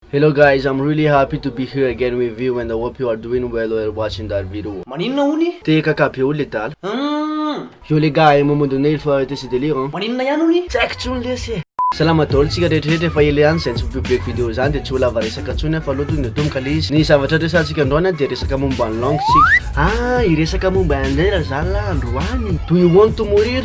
Hello guys, I'm really happy to be here again with you and I hope you are doing well while watching that video. Maninona honie? Te kaka be olo le dala. Humm. Yo le gars, un moment donné il faut arreter ce délire hein. Maninona ihany honie? Tsy haiko tsony lesy e. Salama daholo tsika rehetrarehetra efa ela ihany izay tsy mi-public video izany dia tsy ho lava resaka tsony aho fa aloha tody natomboka le izy ny zavatra resahantsika androany aho dia resaka momba ny langue tsika ah hiresaka momba an'irera zany lah androany do you want to mourir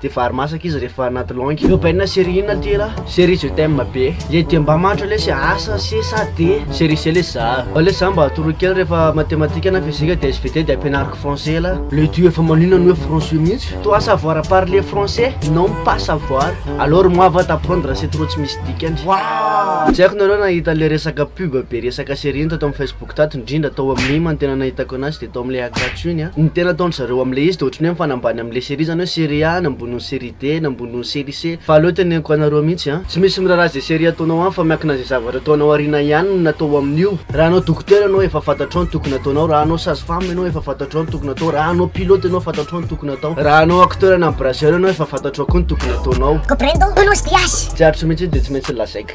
Dia vary masaka izy rehefa anaty langue. Io baina série inona ty ra? Série je t'aime be. Le dia mba mahantra lesy asa se sa de série se lesy za. Fa lesy za mba atoroy kely rehefa matematika na fizika dia svt dia ampianariko français la. Le dia efa manina ny hoe français mihitsy. Toi savoir à parler français non pas savoir. Alors moi va t'apprendre c'est trop tsy misy dikany. Wouah! Tsy haiko nareo nahita le resaka pub be resaka série iny tato am Facebook. Tato indrindra tao amin'ny Ima no tena nahitako anazy dia tao amin'ilay Hagatsu iny an! Ny tena ataon-dry zareo amin'ilay izy dia ohatry ny hoe mifanambany amin'ilay série izany hoe série A ny amboniny série D ny amboniny série C fa aleo teneniko anareo mihitsy an! Tsy misy miraharaha izay série ataonao aminy fa miankina an'izay zavatra ataonao aoriana ihany ny natao amin'io. Raha hanao dokotera ianao efa fantatrao ny tokony ataonao, raha hanao sage femme ianao efa fantatrao ny tokony atao, raha hanao pilote ianao fantatrao ny tokony atao, raha hanao acteur na brasseur ianao efa fantatrao koa ny tokony ataonao. Comprendo, Tonos DH. Tsy haritro mihitsy io dia tsy maintsy lazaiko.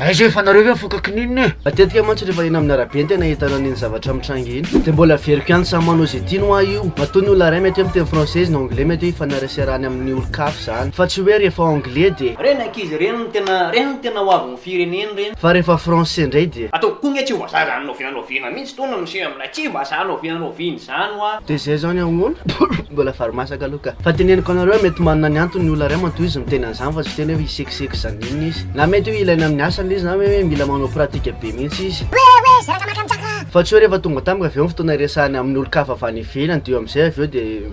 Aiza e fa nareo ve mifoka kininina e? Matetika mantsy rehefa eny amin'ny arabe ny tena ahitana an'iny zavatra mitranga iny dia mbola averiko ihany samy manao izay tiany hoa io. Matoa ny olona iray mety hoe miteny français izy na anglais mety hoe ifaneraserany amin'ny olon-kafa izany fa tsy hoe rehefa anglais dia. Reny ankizy reny no tena reny no tena hoavin'ny firenena reny. Fa rehefa français indray dia. Ataoko koa nge tsy ho vazaha zany noviana noviana mihitsy. Tony miseho amin'ilay kiba zany oviana oviana izany hoa. Dia zay zany ahoana? Mbola vary masaka aloha ka. Fa teneniko anareo mety manana ny antony ny olona iray matoa izy miteny an'izany fa tsy hiteny hoe hisekiseko izany inona izy. Na mety hoe ilaina amin'ny asany ilay izy na hoe mila manao pratika be mihitsy izy. Hoe hoe zay rakamaka mitraka! Fa tsy hoe rehefa tonga tamiko avy eo ny fotoana iresahany amin'olon-kafa avy any ivelany dia eo amin'izay avy eo dia.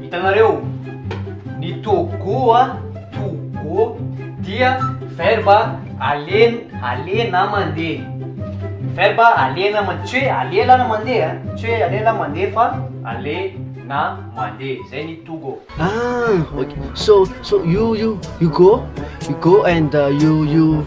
Hitanareo? Ny to go a, to go, dia verba alen, ale na mandeha. Verba ale na mandeha. Tsy hoe alela na mandeha a. Tsy hoe alela mandeha fa ale na mandeha. Zay ny to go. Ah, ok. So, so you, you, you go, you go and you, you.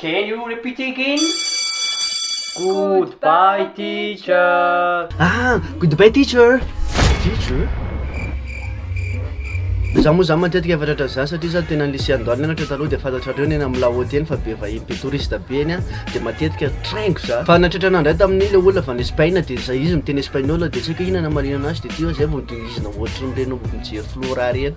Can you repeat again? Goodbye teacher. Ah, goodbye teacher. Teacher? Za moa zany matetika efa tratra za satria za tena lycée andoany nianatra taloha dia fantatrareo ny eny amin'ny lahaoty eny fa be vahiny be touriste be eny an dia matetika traingo za fa natratra anah indray tamin'ny le olona avy any Espaina dia za izy miteny espagnol dia tsy haiko inona namarina anazy dia ty zay vao midongizina ohatrin'ireny mijery flora ireny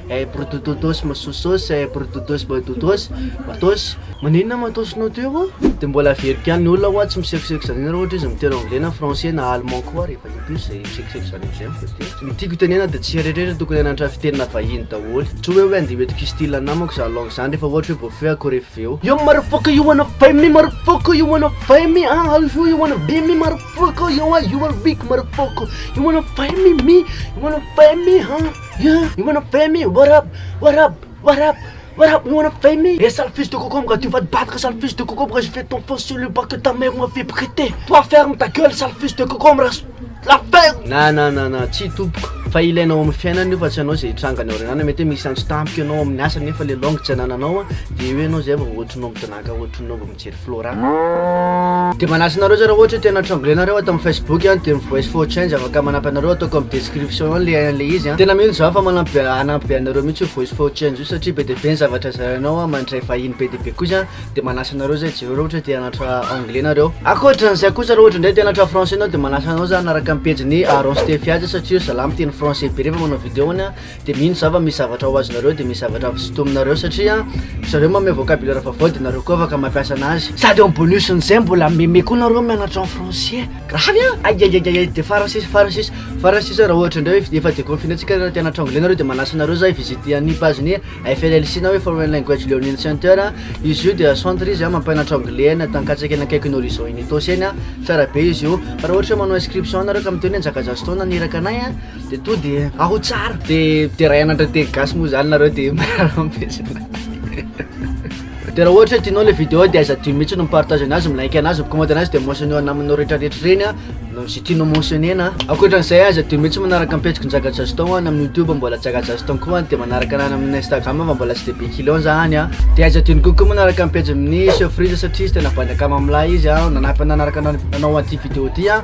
Eh brdododos msosos eh brdodos bdodos matos. Maninona matos nao teo ô? De mbola averiko ihany, ny olona ho'a tsy misekoseko izany raha ohatra izy miteny anglais na français na allemand koa rehefa in plus zay misekoseko izany amizay amiko de tsy ny tiako itenena de tsy eritreretra tokony hanantra fiteny na vahiny daholo tsy hoe hoe andeha hoentiko histyle namako za langue zany rehefa ohatra hoe voafehy akory efa avy eo yo marfoko you wanna fight me marfoko you wanna fight me ah how you wanna be me marfoko yo ah you are weak marfoko you wanna fight me me you wanna fight me ah Yeah, you wanna fame me, what up, what up, what up, what up, you wanna fame me Eh sale fils de cocombre, tu vas te battre sale fils de cocombre, je fais ton faux sur le banc que ta mère m'a fait prêter Toi ferme ta gueule sale fils de cocombre, la la ferme Na na na na, tsia tompoko, fa ilaina ao amin'ny fiainana io fa tsy ianao izay hitranga any aoriana any, mety hoe misy antso tampoka ianao ao amin'ny asa nefa ilay langue tsy anananao an, dia eo ianao izay vao ohatranao midona. Gaga ohatry ny nova mijery Flora. Dia manahy anareo zay raha ohatra tena tremble nareo ato amin'ny facebook an, dia mivoice for change afaka manampy anareo atao comme description eo le an'le izy an, tena mino zaho fa manampy hanampy be anareo mihitsy io voice for change io satria be dia be ny zavatra zarainao an, mandray vahiny be dia be koa izy an, dia manasa anareo zay jereo raha ohatra te hanatra anglais nareo. Ankoatran'izay kosa raha ohatra indray te hanatra français anao dia manasa anao za hanaraka ny pejin'i Aaron Stefy azy satria io zalahy miteny français be rehefa manao vidéo-ny an, Dia mino za fa misy zavatra ho azonareo dia misy zavatra avy sintominareo satria ry zareo mameo vocabulaire vaovao dia nareo koa afaka mampiasa anazy. Sady en bonus n'izay mbola meme koa nareo mianatra en français. Gravy an! Aiaiaiaiai dia farany sisa farany sisa farany sisa raha ohatra indray hoe efa deconfiner-tsika raha te hanatra anglais nareo dia manasa anareo za hi-visiter an'io page-n'ny FLLC na hoe Foreign Language Learning Center an! izy io dia centre izy an mampianatra anglais any Antankatsaka eny akaikin'ny Horizon Unitos eny an! tsara be izy io! fa raha ohatra hoe manao inscription nareo ka miteny hoe nizaka jazztown naniraka anay an! De to de aho tsara. De de ray anatra teny gasy moa zany nareo de miarahaba am pejinay. De raha ohatra hoe tianao le vidéo de aiza adio mihitsy no mi partage anazy, mi like anazy, mi comment anazy de mentionner ao namanao rehetra rehetra reny a, ze tianao mentionner-na a. Ankoatran'izay aiza adio mihitsy manaraka am pejiko Njaga Jazton any amin'ny youtube mbola Njaga Jazton koa any de manaraka anahy any amin'ny instagram fa mbola tsy de be clients za any a. De aiza adio ny kokoa manaraka am pejin'ny Sofriza satria izy tena bandy akaman'mlahy izy a, nanampy anah nanaraka anao an'ty vidéo ty a.